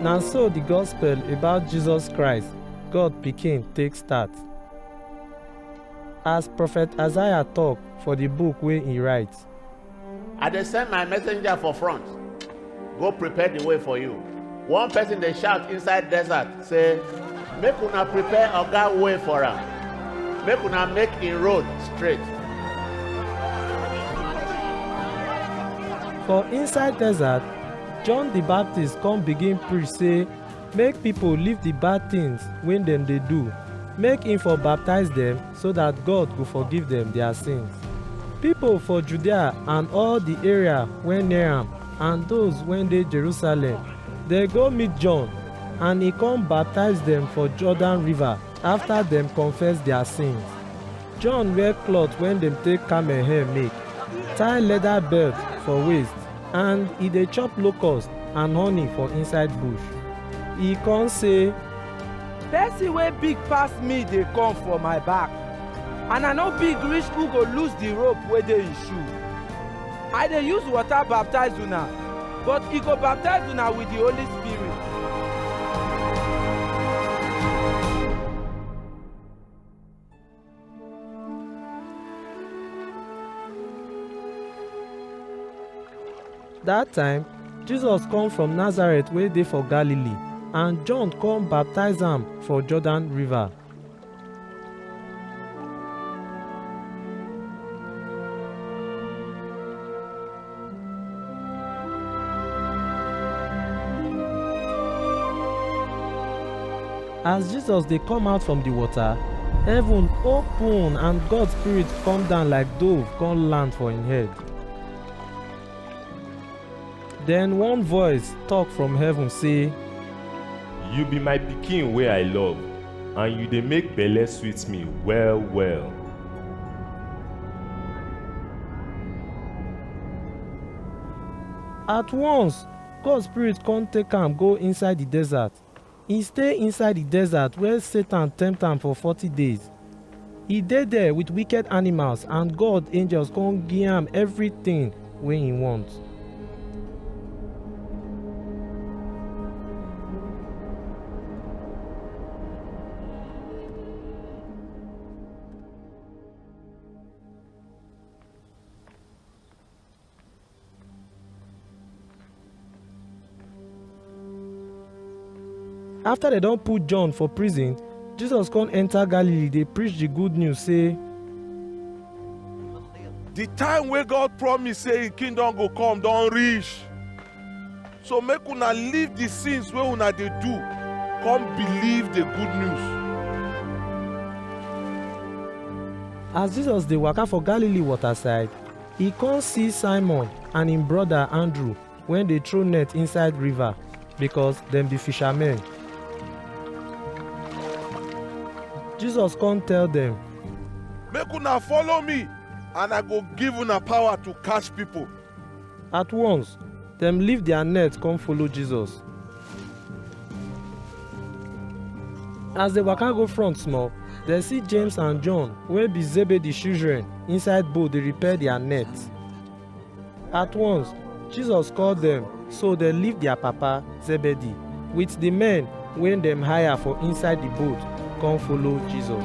Na so the gospel about Jesus Christ, God Pikin, take start. As prophet Isaiah talk for the book wey he write, I dey send my messenger for front, go prepare the way for you. One person dey shout inside desert say, Make una prepare Oga way for am, make una make im road straight. for inside desert John the Baptist come begin preach say make people leave the bad things wey dem dey do, make him for baptize them so that God go forgive them their sins. People for Judea and all the area wey near am and those wey dey Jerusalem dey go meet John and he come baptize them for Jordan river. Afta dem confess dia sins, John wear cloth wey dem take camel hair make, tie leather belt for waist and e dey chop locust and honey for inside bush. E con say, Pesin wey big pass mi dey kom for my back, and I no big rish who go loose di rope wey dey en shoe. I dey use water baptize una, but e go baptize una with the Holy Spirit. Dat time, Jesus come from Nazareth wey dey for Galilee, and John come baptize am for Jordan river. As Jesus dey come out from the water, heaven open and God spirit come down like dove come land for him head. Then one voice talk from heaven say, You be my pikin wey I love, and you dey make belle sweet me well well. At once, God spirit come take am go inside the desert. E stay inside di desert where Satan tempt am for forty days. E dey there with wicked animals and God angels come give am everything wey he want. after dem don put john for prison jesus come enter galilee dey preach the good news say the time wey god promise say him kingdom go come don reach so make una leave the sins wey una dey do come believe the good news as jesus dey waka for galilee waterside E kon si Simon and en broda Andrew wen dey throw net inside river, bikos dem bi fishamen. Jesus kon tell dem. Make una follow mi and I go give una pawa to catch pipol. At wons, dem leave dia net kon follow Jesus. as dem waka go front small dem see james and john wey be zebedee children inside boat dey repair their net at once jesus call dem so dem leave their papa zebedee with the men wey dem hire for inside the boat come follow jesus.